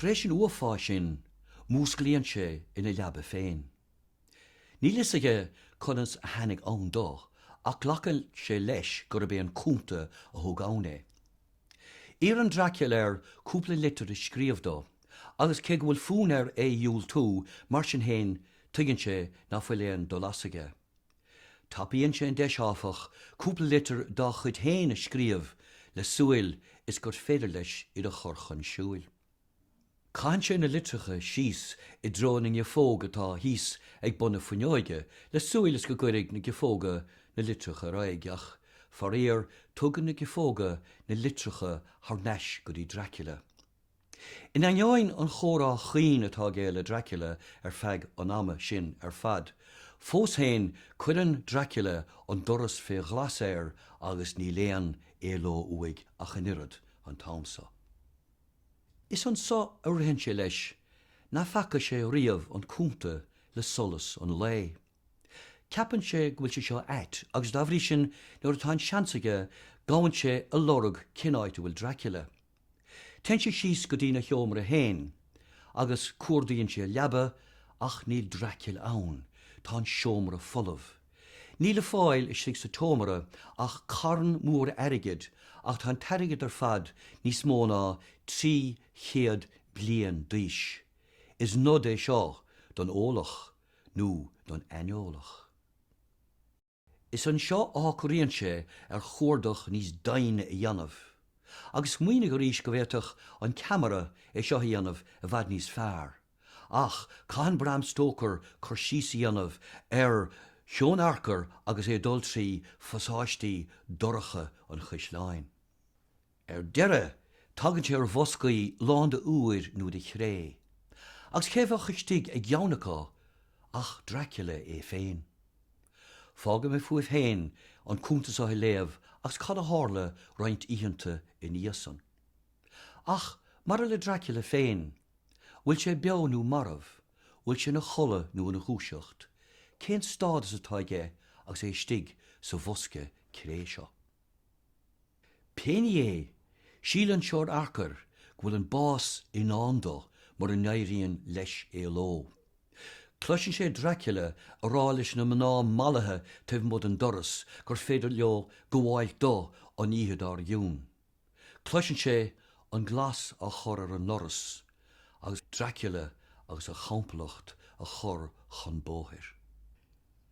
Tar éis an uafáis sin, músclaíonn sé ina leaba féin. Níl fhios aige conas a tháinig ann dó, ach glacann sé leis gurb é an Cunta a thug ann é. Iarrann Dracula air cúpla litir a scríobh dó, agus cé go bhfuil fonn air é a dhiúltú, mar sin féin, tuigeann sé nach bhfuil aon dul as aige. Tapaíonn sé an deis áfach cúpla litir dá chuid féin a scríobh le súil is gur féidir leis iad a chur chun siúil. Caitheann sé na litreacha síos i dtreo na ngiofóg atá thíos ag bun na fuinneoige le súil is go gcuirfidh na giofóga na litreacha ar aghaidh ach, faraor, tugann na giofóga na litreacha thar n-ais go dtí Dracula. In ainneoin an chomhrá chaoin atá aige le Dracula ar feadh an ama sin ar fad, fós féin cuireann Dracula an doras fé ghlas air agus níl aon éaló uaidh ach an oiread, an t-am so. Is anso a ritheann sé leis nach bhfaca sé riamh an Cunta le solas an lae. Ceapann sé go bhfuil sé seo ait agus dá bhrí sin nuair atá an seans aige gabhann sé ag lorg cén áit a bhfuil Dracula. Téann sé síos go dtína sheomra féin agus cuardaíonn sé a leaba ach níl Dracula ann, tá an seomra folamh. Níl le fáil istigh sa tseomra ach carn mór airgid ach tá an t-airgead ar fad níos mó ná trí chéad bliain d'aois. Is nod é seo don eolach. nó don aineolach. Is anseo a shocraíonn sé ar chuardach níos doimhne a dhéanamh, agus smaoinigh arís go bhféadfadh an ceamara é seo a dhéanamh i bhfad níos fearr, ach caitheann Bram Stoker cur síos a dhéanamh ar Sheon Harker agus é ag dul trí phasáistí dorcha an chaisleáin. Ar deireadh, tagann sé ar bhoscaí lán de úir nó de chré. Agus cé a bheadh istigh i gceann acu ach Dracula é féin. Fágfaidh mé fúibh féin an cuntas a léamh agus cad a tharla roinnt oícheanta ina dhiaidh san. Ach, maidir le Dracula féin, bhfuil sé beo nó marbh, bhfuil sé ina chodladh nó ina dhúiseacht, cén stádas atá aige agus é istigh sa bhosca cré seo? Pé ní é, síleann Seon Harker go bhfuil an bás i ndán dó mura n-éiríonn leis éaló. Cloiseann sé Dracula ag rá leis na mná mallaithe taobh amuigh den doras gur féidir leo gabháilt dó an oíche dár gcionn. Cloiseann sé an glas á chur ar an ndoras agus Dracula agus a chomplacht ag cur chun bóthair.